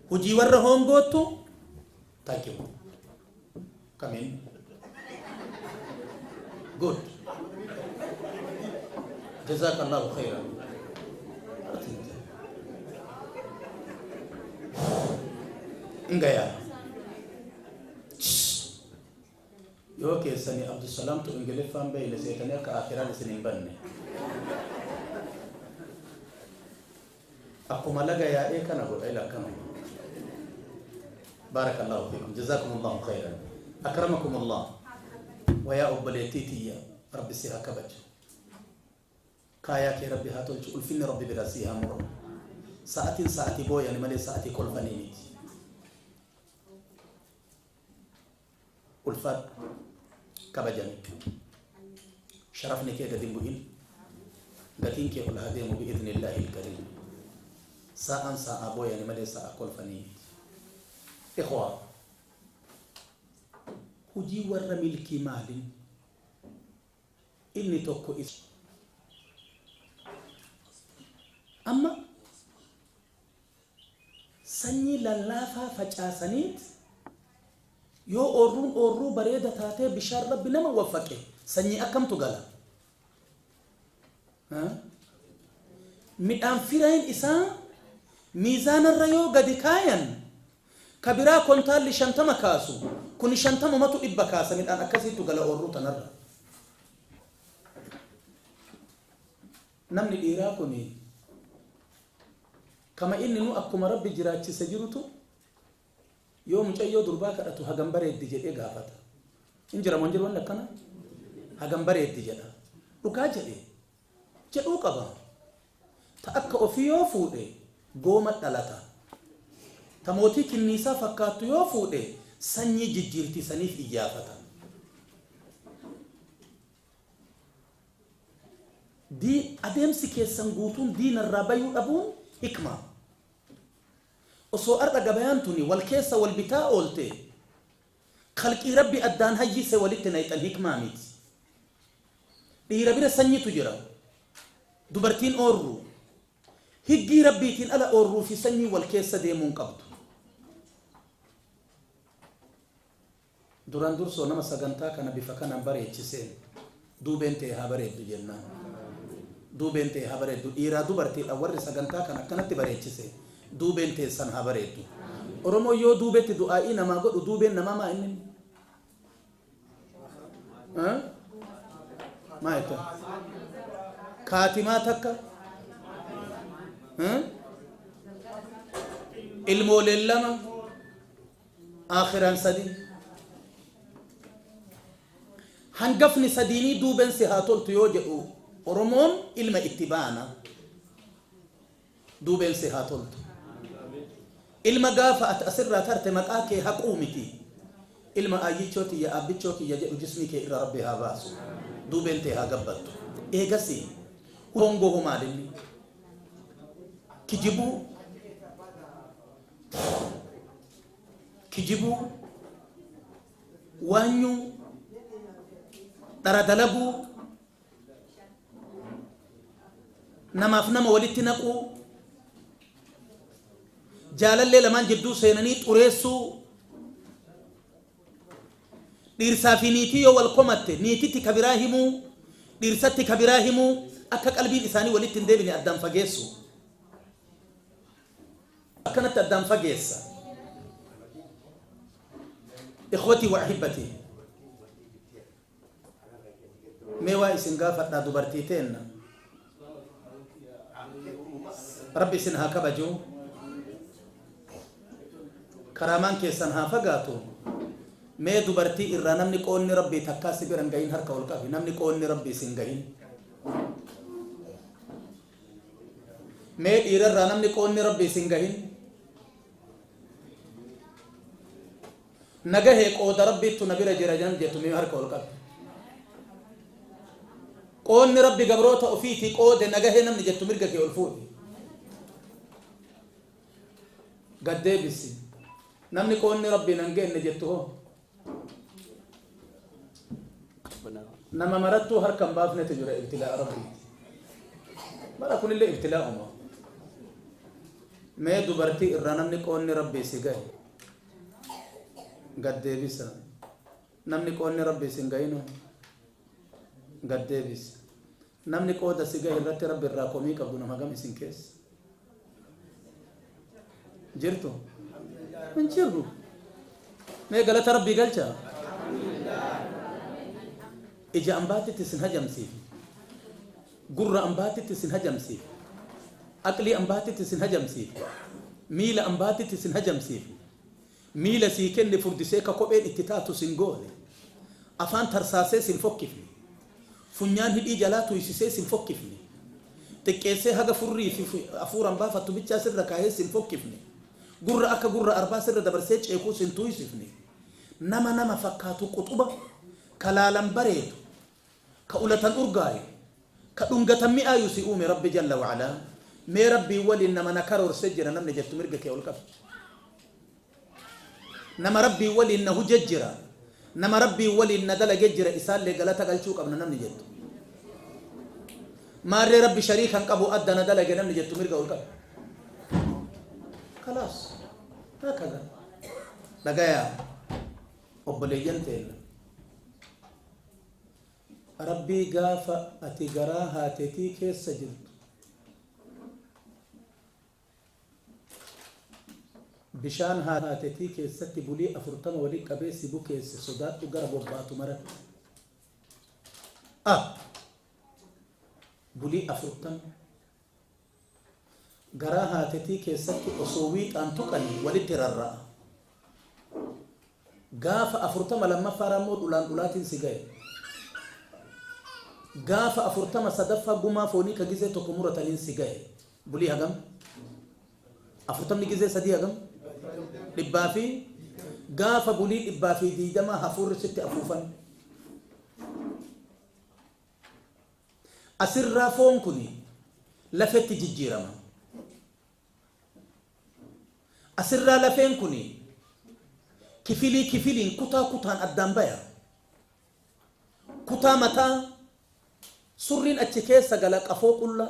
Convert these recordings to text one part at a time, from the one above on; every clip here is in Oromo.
Hojii warra hoongoottu thank you. Come in. Good. Jazakallahu khairan. Ngaya. Yoo keessanii Abdusalaamtu Ingiliffaan beeyne seetanii akka aakiraan isin hin banne. Akkuma laga yaa'ee kana godha ila akkana. Baarakallaahu fiikum jazaakumullaahu khayran akramakumullah wayaa obboleettii tiyya rabbi si haa kabaju kaayaa kee rabbi haa tolchu ulfinni rabbi bira si haa muramu sa'atiin sa'atii booyani malee sa'atii kolfanii miti Ulfaadhu. Kabajami. Sharafni kee gadi hin bu'in. Gatiin kee ol haa deemu bi'idhnillaahil kariim. Saa'aan saa'aa booyani malee saa'aa kolfanii miti. Ikhwaa. Hujii warra milkii maalin? Inni tokko is. Amma Sanyii lallaafaa facaasaniit yoo oorruun oorruu bareeda taatee bishaan rabbi nama waffaqe sanyii akkamtu gala? Midhaan fireen isaa miizaanarra yoo gadi kaayan ka biraa kontaalli shantama kaasu kuni shantamumatu dhibba kaasa midhaan akkasiitu gala oorruu tanarra. Namni dhiiraa kuni kama inni nu akkuma Rabbi jiraachise jirutu yoo mucayyoo durbaa kadhatu hagam bareeddi jedhee gaafata. Hin jira moo hin jiru wanni akkana? Hagam bareeddi jedha. Dhugaa jedhe. Jedhuu qaba. Ta akka ofii yoo fuudhe gooma dhalata. Ta mootii kinniisaa fakkaattu yoo fuudhe sanyii jijjiirti saniif iyyaafata. D. Adeemsi keessan guutuun diina irraa bayuu dhabuun hikmaa. Osoo har'a gabayaan tuni wal keessa wal bitaa oolte khalqii Rabbi addaan hayyise walitti nayxan hikmaa miti. Dhiira bira sanyitu jira. Dubartiin oorruu. Higgii Rabbiitiin ala oorruu fi sanyiin wal keessa deemuu hin qabdu. Duraan dursoo nama sagantaa kana bifa kanaan bareechiseen duubeen tee haa bareeddu jennaan. Duubeen tee haa bareeddu. Dhiiraa dubartiidhaan warri sagantaa kana akkanatti bareechise duubeen teessan haa bareeddu. Oromoon yoo duubetti du'aa'ii namaa godhu duubeen namaa maa inni inni? Haa? Maa jettan? Kaatimaa takka? Haa? Ilmooleen lama? aakhiran sadii hangafni sadiinii duuben si haa toltu yoo jedhu oromoon ilma itti baana duubeen si haa toltu ilma gaafa ati asirraa tarte maqaa kee haquu miti ilma aayyichoo tiyya aabbichoo kiyya jedhu jismii kee irra rabbi haa baasu duubeen tee haa gabbattu eegasii hoongohu maalinni kijibuu kijibuu, waanyuu, dhara dalaguu, namaaf nama walitti naquu, jaalallee lamaan jidduu seenanii xureessuu, dhiirsaa fi niitii yoo wal komatte niititti ka biraa himuu, dhiirsatti ka biraa himuu, akka qalbiin isaanii walitti hin deebine addaan fageessuu. akkanatti addaan fageessa ikhwatii wa ahibbatii mee waa isin gaafadhaa dubartii teenna rabbi isin haa kabajuu karaamaan keessan haa fagaatu mee dubartii irraa namni qoonni rabbii takkaa si biran gahin harka ol qabi namni qoonni rabbii isin gahin Mee dhiira irraa namni qoonni rabbi isin gahin na gahee qooda rabbiittu na bira jira nam jettu mee harka ol qabi. Qoonni rabbi gabroota ofiitii qoode na gahee namni jettu mirga kee ol fuudhi. Gad deebisi. Namni qoonni rabbi nan geenne jettu hoo? nama marattuu harka hin baafnetu jira ibtilaa rabbiiti bara kunillee ibtilaa uma mee dubartii irraa namni qoonni rabbii si gahe gad deebisa namni qoonni rabbii si hin gahinu gad deebisa Namni qooda si gahe irratti Rabbi irraa komii qabdu nama hagam isin keessa jirtu? Hin jirru. Mee galata Rabbii galcha. Ija ambaatitti isin hajamsiifne. Gurra ambaatitti isin hajamsiifne. Aqlii ambaatitti isin hajamsiifne. Miila ambaatitti isin hajamsiifne. Miila sii kenne furdisee ka kopheen itti taatu sin goone. Afaan tarsaasee sin fokkifne. Funyaan hidhii jalaa tuuysisee sin fokkifne. Xiqqeessee haga furrii fi afuuran baafattu bichaa sirra kaayee sin fokkifne. Gurra akka gurra arbaa sirra dabarsee ceekuu sin tuuysifne. Nama nama fakkaatu quxuba ka laalan bareedu Ka ulatan urgaaye, ka dhungatan mi'aayu si uume Rabbi jalla wa ala. Mee Rabbiin waliin nama na karoorse jira namni jettu mirga kee ol qabdi. Nama Rabbiin waliin na huje jira, nama Rabbiin waliin na dalage jira isaallee galata galchuu qabna namni jettu. Maarree Rabbi shariika hin qabu adda na dalage namni jettu mirga ol qabdi. Kalaas. Haakadha. Dhagayaa. Obboleeyyan teenna. Rabbii gaafa ati garaa haatetii keessa jirtu bishaan haatetii keessatti bulii afurtama wali qabee si bukeesse sodaadhu gara bobbaatu maratti a bulii afurtama Garaa haatetii keessatti osoo wiixaan tuqanii walitti rarra'a. Gaafa afurtama lammaffaaraan immoo dhulaan dhulaatiin si gahe. Gaafa afurtama sadaffaa gumaa foonii ka gizee tokko murataniin si gahe. Bulii hagam? Afurtamni gizee sadii hagam? Dhibbaa fi gaafa bulii dhibbaa fi diidamaa hafuurri sitti afuufame. As irraa foon kun lafetti jijjiirama. As irraa lafeen kun kifilii kifiliin, kutaa kutaan addaan baya. Kutaa mataa, surriin achi keessa gala, qafoo qullaa.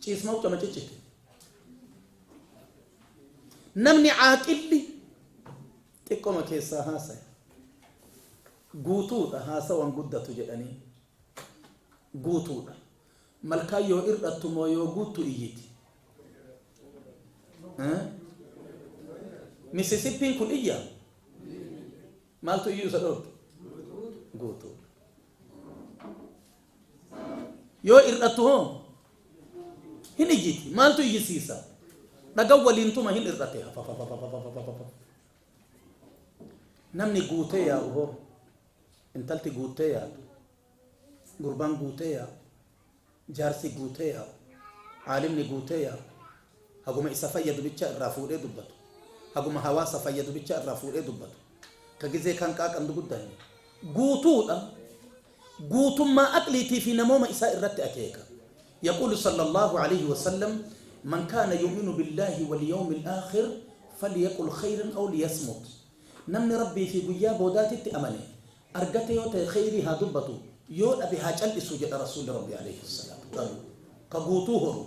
Ciismoo akkama ciccite. Namni caaqilli xiqqoma keessaa haasaya. Guutuudha haasawan guddatu jedhanii. Guutuudha. Malkaa yoo ir'attu moo yoo guuttu iyyiti. Misisippiin kun iyya. Maaltu iyyuu isa dhoorge? Guutuudha. Yoo hir'attu hoo? Hin iyyiti. Maaltu iyyisiisa? Dhagan waliin tuma hin hir'ate. Namni guutee yaa'u hoo? Intalti guuttee yaa'u. Gurbaan guutee yaa'u. Jaarsi guutee yaa'u. Aalimni guutee yaa'u. Haguma isa fayyadu bicha irraa fuudhee dubbatu. Haguma hawaasa fayyadu bicha irraa fuudhee dubbatu. Ka gizee kan qaaqandu guddanne. Guutuudha. guutummaa aqliitii fi namooma isaa irratti akeeka. Yaquulu sallallaahu aleyhi wa sallam, Man kaana yu'minu billaahi wal yawmil aakhir falyaqul khayran aw liyasmut. Namni Rabbii fi guyyaa boodaatitti amane, argate yoo ta'e kheyrii haa dubbatu, yoo dhabe haa cal'isu jedha Rasuulli Rabbii aleyhi salaatu. ka guutuu horu,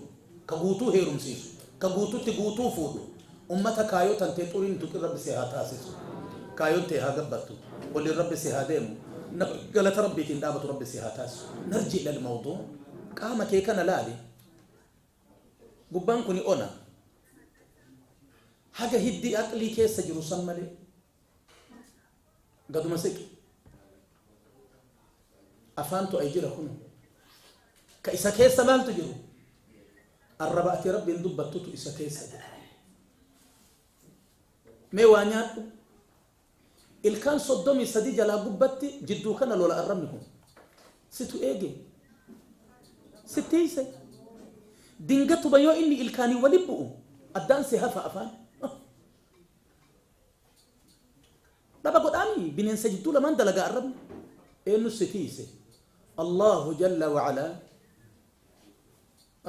ka guutuu heerumsiisu, ka guututti guutuu fuudhu, ummata kaayoo tantee xurii hin tuqin Rabbi si haa taasisu. Kaayoon tee haa gabbattu, waliin Rabbi si haa deemu, nama galata Rabbiitiin dhaabatu Rabbi si haa taasisu. Narji ilal mawduu, qaama kee kana laali, gubbaan kuni ona, haga hiddii aqlii keessa jiru san malee. Gaduma siqi. Afaantu ay jira kun. Ka isa keessa maaltu jiru? Arraba ati rabbiin dubbattutu isa keessa jira. Mee waa nyaadhu. Ilkaan soddomii sadii jalaa gubbatti jidduu kana lola arrabni kun. Situ eege. Sittiise. Dingatuma yoo inni ilkaanii wali bu'u addaan si hafa afaan. Dhaba godhaami bineensa jidduu lamaan dalagaa arrabni eenyu si tiise Allahu jalla wa ala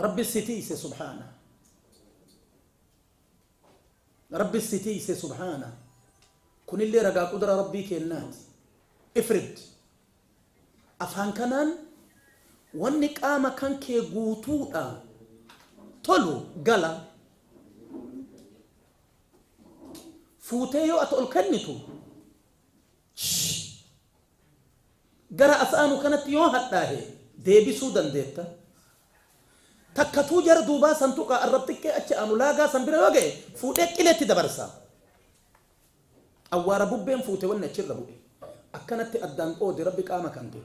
Rabbi si tiise subhaana Rabbi si tiise subhaana kunillee ragaa qudura Rabbii keennaati ifrid afaan kanaan wanni qaama kan kee guutuudha tolu gala fuutee yoo ati ol kennitu gara as aanu kanatti yoo hadhaahe deebisuu dandeetta. Takkatuu jara duubaa san tuqaa arrab xiqqee achi aanu laagaa san bira yoo ga'e fuudhee qileetti dabarsa. Awwaara bubbeen fuute wanni achirra bu'e. Akkanatti addaan qoode rabbi qaama kan kee.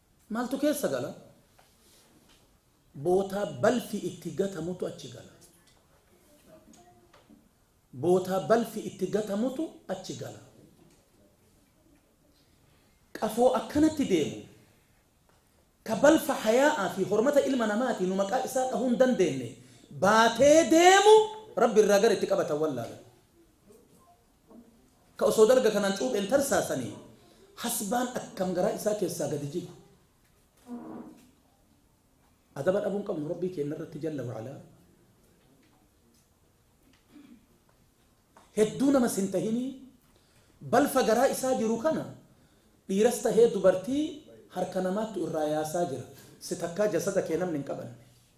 Maaltu keessa gala? Bootaa balfi itti gatamutu achi gala. Bootaa balfi itti gatamutu achi gala. Qafoo akkanatti deemu ka balfa hayaa'aa fi hormata ilma namaatii nu maqaa isaa dhahuu hin dandeenne baatee deemu Rabbi irraa gara itti qabatan wallaalan. Ka osoo dalga kanaan cuupheen tarsaasanii hasbaan akkam garaa isaa keessaa gadi jigu. Adaba dhabuu hin qabnu Rabbii keenna irratti jalla wa'alaa. Hedduu namas hin tahinii balfa garaa isaa jiru kana dhiiras tahee dubartii harka namaattu irraa yaasaa jira. Si takkaa jasada kee namni hin qabanne.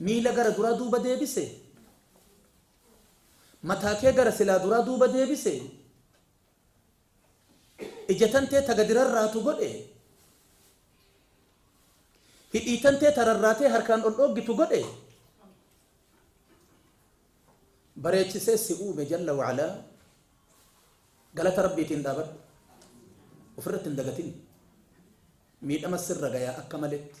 Miila gara duraa duuba deebise. Mataa kee gara silaa duraa duuba deebise. Ija tantee ta gadi rarraatu godhe. Hidhii tantee ta rarraatee harkaan ol dhooggitu godhe. Bareechisee si uume jalla wa'alaa. Galata Rabbiitiin dhaabadhu. Ofirratti hin dagatin. Miidhama sirra gayaa akka maletti.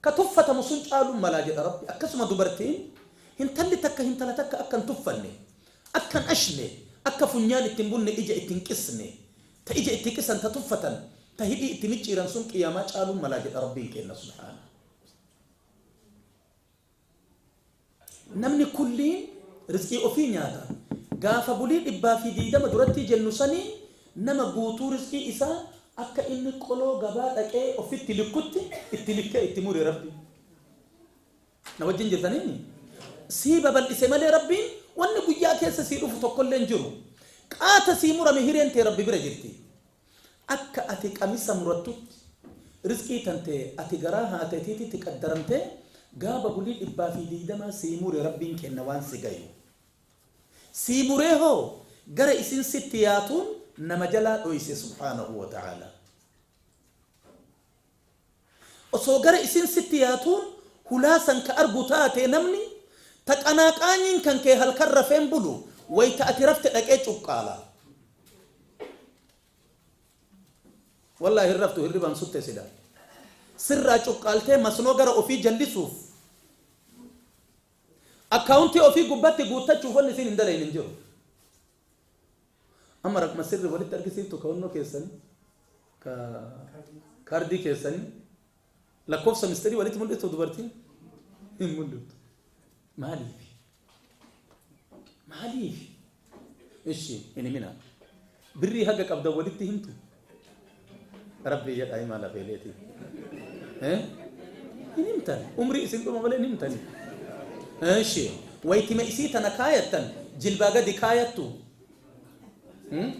Ka tuffatamu sun caaluu mala jedha Rabbi. Akkasuma dubartiin, hintalli takka hintala takka akka hin tuffanne, akka hin ashne, akka funyaan itti hin bunne ija itti hin qisne, ta ija itti qisan, ta tuffatan, ta hidhii itti micciiran sun qiyaamaa caaluu mala jedha Rabbiin keenna subhaanahu. Namni kulliin rizqii ofii nyaata. Gaafa bulii dhibbaa fi diidama durattii jennu saniin nama guutuu rizqii isaa akka inni qoloo gabaa dhaqee offitti likkutti itti likkee itti mure Rabbiin. Na wajjin jirtanii? Sii babal'ise malee Rabbiin wanni guyyaa keessa sii dhufu tokkollee hin jiru. Qaata sii murame hireen tee Rabbi bira jirti. Akka ati qamisa murattutti rizqii tante ati garaa haatee teetitti qaddaramtee gaaba bulii dhibbaa fi diidamaa sii mure rabbiin kenna waan si gayuu sii muree hoo gara isin sitti yaatuun nama jalaa dhoyse subhaanahu wa ta'aalaa. Osoo gara isiin sitti yaatuun hulaa san ka argu taate namni, ta qanaa qaanyiin kan kee halkan rafeen bulu, wayta ati rafte dhaqee cuqqaala. Wallaahi hin raftu hirribaan sutte sila. Sirraa cuqqaaltee masnoo gara ofii jallisuuf, akkaawuntii ofii gubbatti guuttachuuf wanni isiin hin dalayne hin jiru. Amma raqma sirri walitti argisiiftu kawannoo keessani ka kaardii keessani lakkoofsa mistirii walitti mul'iftu dubartiin hin mul'iftu. Maaliif? Maaliif? Ishi hin himinaa. Birrii haga qabdan walitti himtu. Rabbii jedhaa himaa lafeeleetii. Eh? Hin himtan. Umrii isin dhuma malee hin himtani. Eshi. Waytima isii tana kaayattan jilbaa gadi kaayattu. Hmm?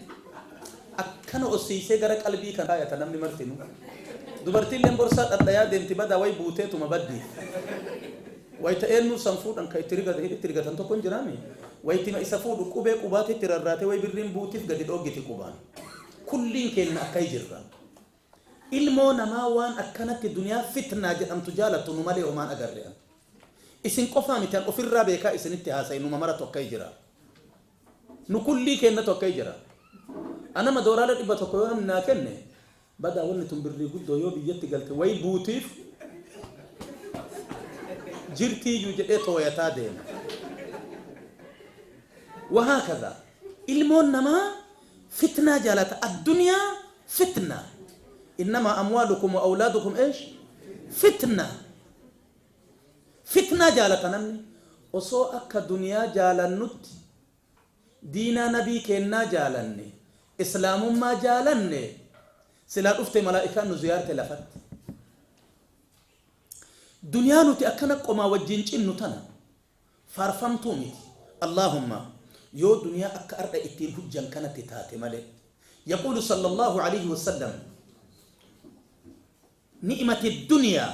Akkana ossiisee gara qalbii kan kaayata namni martinu. Dubartiilleen borsaa dhadhayaa deemti badaa way buuteetuma baddi. Wayita eenyuu san fuudhan kan itti rigatan hidhitti rigatan tokko hin jiraami. Waytima isa fuudhu qubee qubaatti itti rarraatee way birriin buutiif gadi dhooggiti qubaan. Kulliin keenna akkai jirra. Ilmoo namaa waan akkanatti duniyaa fitnaa jedhamtu jaalattu nu malee homaan agarre an. Isin qofaa miti an ofirraa beekaa isinitti haasaye numa maratu akkai jira. Nu kullii keennatu akkai jira. Ana madooraala 100 yoo namni naa kenne Badaa wanni tun birrii guddoo yoo biyyatti galte wayi buutiif jirtiiyyu jedhee tooyataa deema. Wahaakaza ilmoon namaa fitnaa jaalata addunyaa fitna innamaa amwaalukum wa awlaadukum eesh fitna fitnaa jaalata namni osoo akka duniyaa jaalannutti diinaa nabii keennaa jaalanne islaamummaa jaalanne silaa dhufte malaa'ikaan nu ziyaarte lafatti duniyaa nuti akkana qomaa wajjiin cinnu tana faarfamtuu miti allaahumma yoo duniyaa akka ardha ittiin hujjan kanatti taate malee yaquulu sallallahu alayhi wasallam ni'imati duniyaa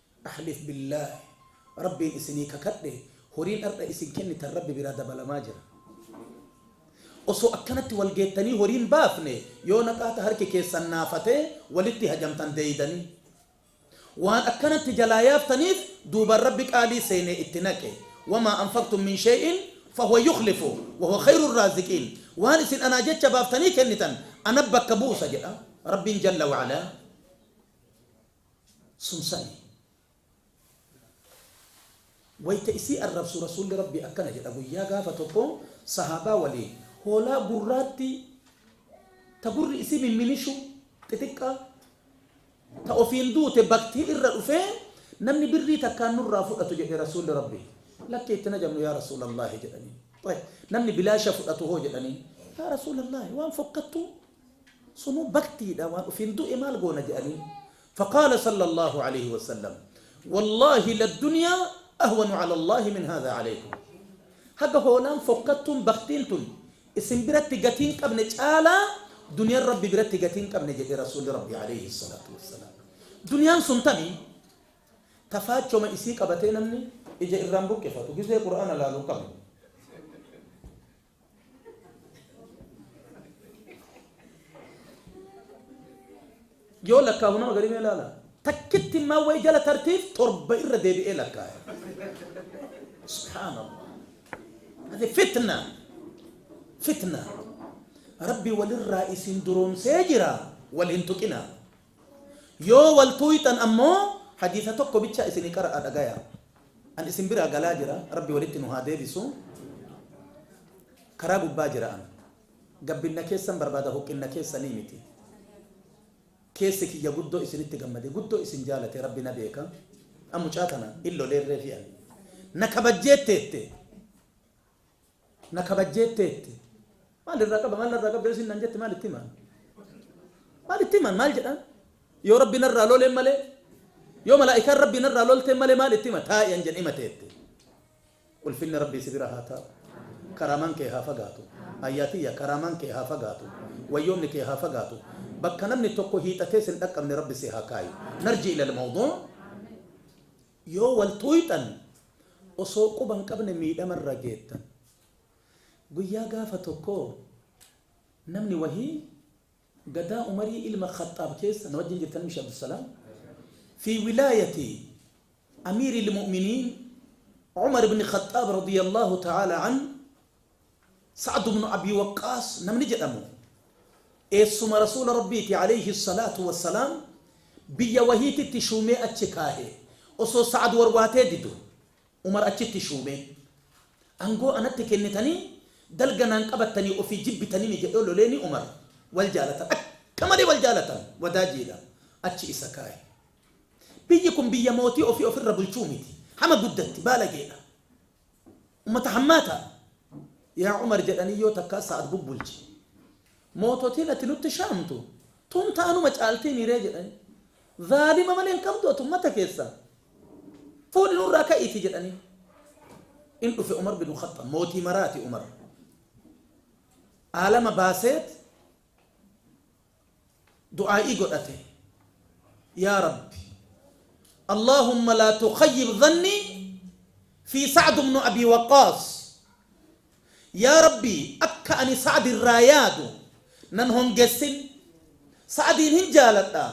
Ahlif billaah rabbiin isinii kakadhe horiin ardha isin kennitan rabbi biraa dabalamaa jira osoo akkanatti wal geettanii horiin baafne yoo naqaata harki keessan naafate walitti hajamtan deeydanii waan akkanatti jalaa yaaftaniif duubaan rabbi qaalii seenee itti naqe wamaa anfaqtum min shey'in fahuwa yukhlifu wahuwa khayru raaziqiin waan isin anaa jecha baaftanii kennitan ana bakka buusa jedha rabbiin jalla wa'alaa suusani. Wayta isii arrabsu Rasuulli Rabbii akkana jedha, Guyyaa gaafa tokko sahaabaa waliin hoolaa gurraattii ta gurri isii mimminishu xixiqqaa ta ofiin duute baktii irra dhufee namni birrii takkaan nurraa fudhatu jedhe Rasuulli Rabbii. Lakki itti hin ajamnu yaa Rasuulallaahi jedhaniin. Namni bilaasha fudhatu hoo jedhaniin. Yaa Rasuulallaahi waan fokkattuu Sunu baktiidha waan ufiin du'e maal goona je'aniin. Faqaala sallallaahu aleeyhi wasallam, Wallaahi laddunyaa ahwanu calallaahi min haadhaa caleeykum. Haga hoolaan fokkattuun, baktiin tun, isin biratti gatii hin qabne caalaa duniyaan Rabbi biratti gatii hin qabne jedhe Rasuulli Rabbii aleeyhi salaatu wassalaam. Duniyaan sun tami? Ta faachoma isii qabatee namni ija irraa hin buqqifatu, gizee qur'aana laalu hin qabne. yoo lakkaahu nama garii mee laala takkitti immaa wayi jala tartiif torba irra deebi'ee lakkaaya subhaanallah ati fitna fitna rabbi walirraa isin duroomsee jira wal hin tuqina Yoo wal tuuyxan ammoo hadiisa tokko bicha isinii qara'aa dhagayaa. An isin biraa galaa jira, Rabbi walitti nu haa deebisu. Karaa gubbaa jira an. Gabbinna keessan barbaada huqqinna keessanii miti. Keessi kiyya guddoo isinitti gammade, guddoo isin jaalate Rabbi na beeka. An mucaa tana hin loleerreefi an. Na kabajjee teette. Na kabajjeetteetti. Maal irraa qaba? Maal narraa qabda? Yoo isin naan jette maal itti himaan? Maal itti himaan? Maal jedhaan? Yoo Rabbi narraa loleen malee, yoo malaa'ikaan Rabbii narraa lolteen malee maal itti hima? Taa'i an jedhe himateetti. Ulfinni Rabbii si bira haa taa'u. Karaamaan kee haa fagaatu. Ayyaa tiyya karaamaan kee haa fagaatu. Wayyoomni kee haa fagaatu. Bakka namni tokko hiixatee sin dhaqqabne Rabbi si haa kaayu. Narji ilal mawduu. Yoo wal tuuyxan osoo quba hin qabne miidhama irra geettan. Guyyaa gaafa tokkoo namni wahii gadaa Umarii ilma Khaxxaab keessa na wajjin jirtan mishi Abdusalaam fi wilaayati Amiiril Mu'miniin Umar ibn Khaxxaab radiyallaahu ta'aalaa anhu Sa'd ibn Abii Waqqaas namni jedhamu eessuma Rasuula Rabbiiti, aleyhi salaatu wa salaam, biyya wahiititti shuumee achi kaahe. Osoo Sa'd warwaatee didu, Umar achitti shuumee, Aangoo anatti kennitanii dalga naan qabattanii ofii jibbitaniini jedhee loleeni Umar. Wal jaalatan. Akka malee wal jaalatan. Wadaajiidha. Achi isa kaahe. Biyyi kun biyya mootii ofii ofirra bulchuu miti. Hama guddatti. Baalageedha. Ummata hammaataa! Yaa Umar jedhanii yoo takkaa Sa'ad bubbulche. Moototiin ati nutti shaamtu tun taanuma caaltiimiiree jedhanii. Zaalima malee hin qabdu ati ummata keessaa. Fuudhi nurraa ka'iitii jedhaniin. In dhufe Umar bin Khaxxaab mootii maraati Umar. Aalama baaseet du'aa'ii godhate yaa rabbi Allaahumma laa tukhayyib dhannii fii sa'd ibnu abii waqqaas yaa rabbi akka ani sa'd irraa yaadu nan hongessin sa'diin hin jaaladha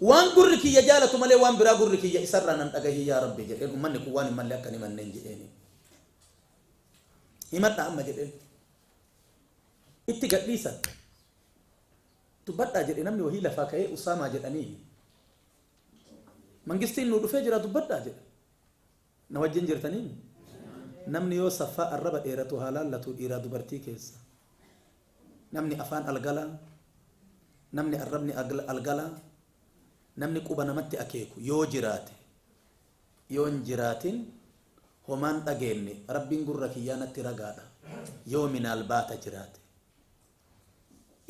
waan gurri kiyya jaalatu malee waan biraa gurri kiyya isarraa nan dhagahin yaa rabbi jedheen ummanni kun waan hin malle akka hin himanneen jedheen himadha amma jedheen Itti gadhiisan. Dubbadhaa jedhe namni wahii lafaa ka'ee Usaamaa jedhanii. Mangistiin nuu dhufee jira dubbadhaa jedhe. Na wajjin jirtaniin. Namni yoo saffaa arraba dheeratu haa laallatu dhiiraa dubartii keessa. Namni afaan algalaa, namni arrabni algalaa, namni quba namatti akeeku yoo jiraate yoon jiraatin homaan dhageenne Rabbiin gurra kiyyaa natti ragaadha yoo minaalbaata jiraate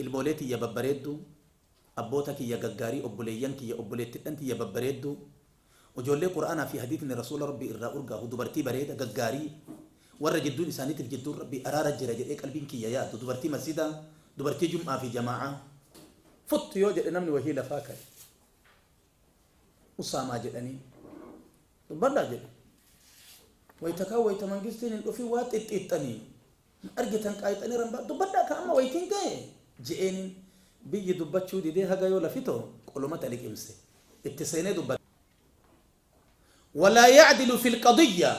ilmoolee tiyya babbareedduu abboota kiyya gaggaarii obboleeyyan kiyya obboleettidhan tiyya babbareedduu ujoollee qur'aanaa fi hadiitni rasuula rabbii irraa urgaahu dubartii bareeda gaggaarii warra jidduun isaaniitiif jidduun rabbii araara jira jedhee qalbiin kiyya yaadu dubartii masjidaa dubartii jum'aa fi jamaa'aa fut yoo jedhe namni wahii lafaa ka'e Usaamaa jedhaniin. Dubbadhaa jedhe. Wayta kaan wayta mangistiin hin dhufin waa xixxiixxanii hin argitan qaayxanii rambaa dubbadhaa kaa amma waytiin gahe je'eeniin. Biyyi dubbachuu didee haga yoo lafi too qolomata liqimse. Itti seenee dubbate. Walaa yacdilu fil qadiyyaa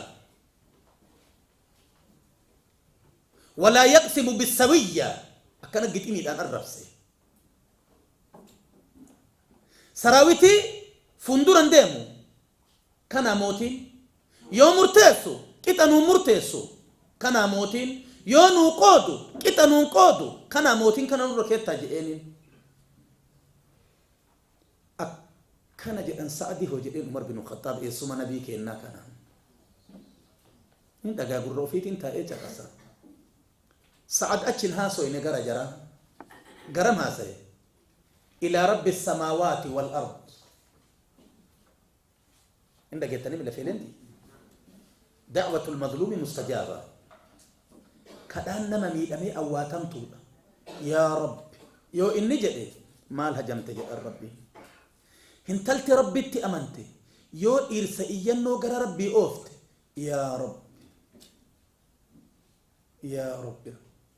walaa yaqsimu bissawiyyaa akkana giximiidhaan arrabse. Sarawiti fundura hin deemu. Kanaa mootiin Yoo murteessu qixa nuun murteessu. Kanaa mootiin Yoo nuu qoodu qixa nuun qoodu. Kanaa mootiin kana nurra keettaa je'eeniin. Akkana jedhan Sa'adii hoo jedheen Umar binu Khaxxaab eessuma nabii keennaa kana. Hin dhagaa gurra ofiitiin taa'ee caqasa. Sa'ad achi hin haasoyne gara jaraa. Garam haasaye? Ilaa rabbi assamaawaati wal ard hin dhageettanii mila feeleentii da'watul mazluumi mustajaaba kadhaan nama miidhamee awwaatamtuudha yaa rabbi yoo inni jedhe maal hajamte jedhan rabbi hintalti rabbitti amante yoo dhiirsa iyyannoo gara rabbii oofte yaa rabbi yaa rabbi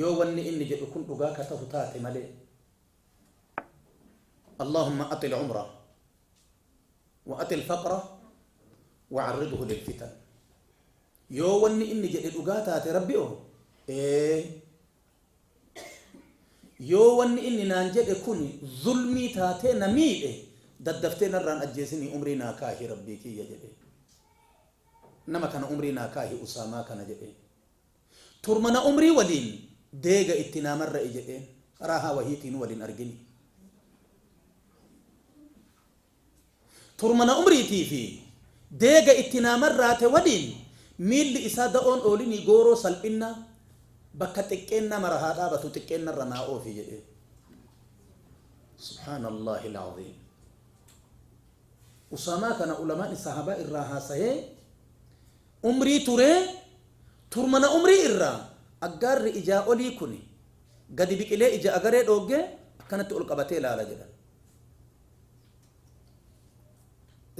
yoo wanni inni jedhu kun dhugaa ka tahu taate malee Allaahumma atil umra wa atil faqra wa arridhu lil fitan yoo wanni inni jedhe dhugaa taate rabbi o ee yoo wanni inni naan jedhe kun zulmii taatee na miidhe daddaftee narraan ajjeesinii umrii naa kaahi rabbii kiyya jedhe nama kana umrii naa kaahi usaamaa kana jedhe Turmana umrii waliin deega itti naa marra'i jedheen. Raahaa wahiitiinuu wal hin argini. Turmana umriitii fi deega itti naa marraate waliin miilli isaa da'oon oolinii gooroo salphinnaa bakka xiqqeennaa mara haa dhaabatu xiqqeennarra naa oofi jedheen. Subhaanallaahil aziim. Usaamaa kana ulamaan sahaabaa irraa haasahee Umrii turee, turmana umrii irraa aggaarri ijaa olii kuni gadi biqilee ija agaree dhooggee akkanatti ol qabatee ilaala jedhan.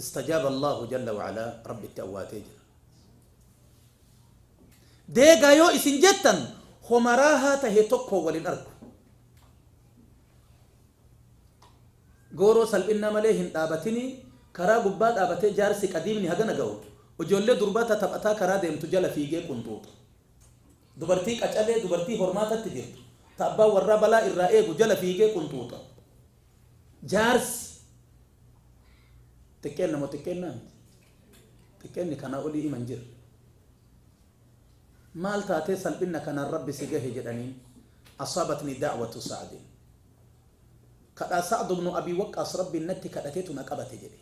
Istajaaba Allaahu jalla wa alaa Rabbitti awwaatee jira. Deegaa yoo isin jettan homa raahaa tahe tokkoon wal hin argu. Gooroo salphinnaa malee hin dhaabatinii karaa gubbaa dhaabatee jaarsi qadiimni hagana gahu ijoollee durbaa ta taphataa karaa deemtu jala fiigee qunxuuxa. Dubartii qacalee, dubartii hormaatatti jirtu, ta abbaan warraa balaa irraa eegu jala fiigee qunxuuxa. Jaarsi xiqqeenna moo xiqqeennaa miti? Xiqqeenni kanaa olii ima hin jirre. Maal taatee salphinna kanaan Rabbi si gahe jedhaniin, Asaabatnii da'watu Sa'din. Kadhaa Sa'd ibn Abi Waqqaas Rabbiin natti kadhatetu na qabate jedhe.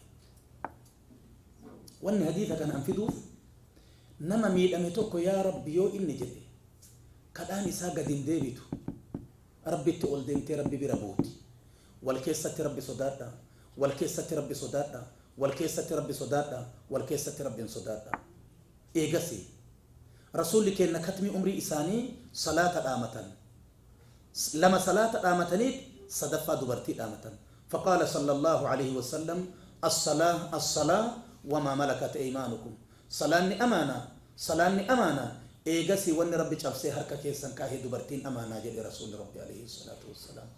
Wanni hadiisa kanaan fiduuf, nama miidhame tokko yaa Rabbi yoo inni jedhe, kadhaan isaa gad hin deebitu. Rabbitti ol deemtee Rabbi bira buuti. Wal keessatti Rabbi sodaadhaa. Wal keessatti Rabbi sodaadhaa. Wal keessatti Rabbi sodaadhaa. Wal keessatti Rabbiin sodaadhaa. Eegasii, Rasuulli keenna katmii umrii isaanii salaata dhaamatan. lama salaata dhaamataniit sadaffaa dubartii dhaamatan. Faqaala sallallaahu aleyhi wasallam, Assalaah assalaah wamaa malakat eymaanukum, Salaanni amaana, salaanni amaana, eegasii wanni Rabbi cabsee harka keessan kaahe dubartiin amaana jedhe Rasuulli Rabbi aleyhi salaatu wassalaam.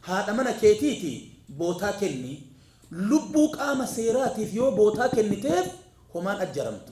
Haadha mana keetiiti bootaa kenni. Lubbuu qaama seeraatiif yoo bootaa kenniteef homaan ajjaramtu.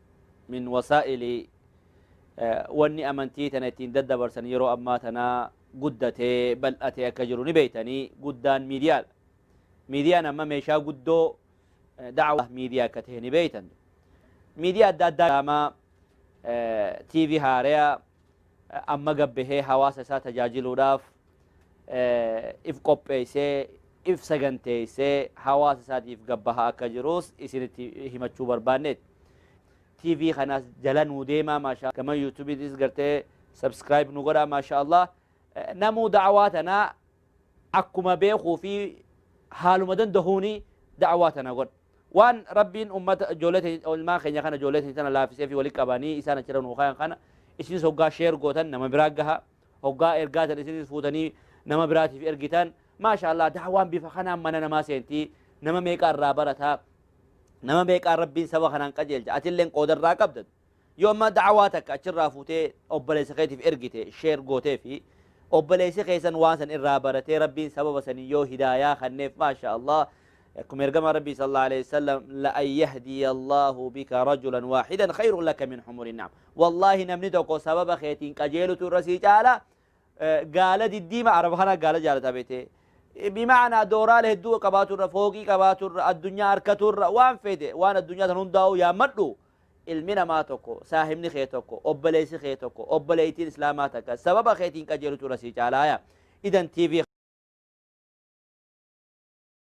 min wasaa'ili wanni amantii tana ittiin daddabarsan yeroo ammaa tana guddatee bal'atee akka jiru ni beeytanii guddaan miidiyaadha. Miidiyaan amma meeshaa guddoo da'awaa miidiyaa akka ta'e ni beeytan. Miidiyaa adda addaa daamaa TV haareyaa amma gad bahee hawaasa isaa tajaajiluudhaaf if qopheessee if saganteessee hawaasa isaatiif gad bahaa akka jirus isinitti himachuu barbaanneeti. TV kanaas jala nuu deemaa maashaa gama yuutuubiitis gartee subscribe nu godhaa maashaa Allah namuu da'awaa tanaa akkuma beekuu fi haaluma dandahuuni da'awaa tana godha. Waan Rabbiin ummata ijoollee teenya ilmaan keenya kana ijoollee teenya tana laafisee fi walitti qabanii isaan achirra nuu kaayan kana isinis hoggaa sheer gootan nama biraa gaha hoggaa ergaa tan isinis fuutanii nama biraatiif ergitan maasha Allah daawaan bifa kanaan mana namaa seentii nama meeqaa irraa barataa nama meeqaa Rabbiin saba kanaan qajeelcha atilleen qooda irraa qabda Yoo amma da'awaa takka achirraa fuutee obboleessa keetiif ergite, share gooteefi, obboleessi keessan waan san irraa baratee Rabbiin sababa saniin yoo hidaayaa kanneef maashaa Allah akkuma ergamaa Rabbii sallallahu alayhi wasallam la'an yahdiya Allahu bika rajulan waahidan khayrun laka min humuri na'am. Wallaahi namni tokko sababa keetiin qajeelutu irra sii caala eh, gaala diddiima araba kana gaala jaalata beetee. Bima'anaa dooraala hedduu qabaaturra, fooqii qabaaturra, addunyaa harkaturra waan fedhe waan addunyaa san hundaa'u yaammadhu. ilmi namaa tokko, saahibni kee tokko, obboleessi kee tokko, obboleettiin islaamaa takka sababa keetiin qajeelutu irra sii caalaaya. Idan TV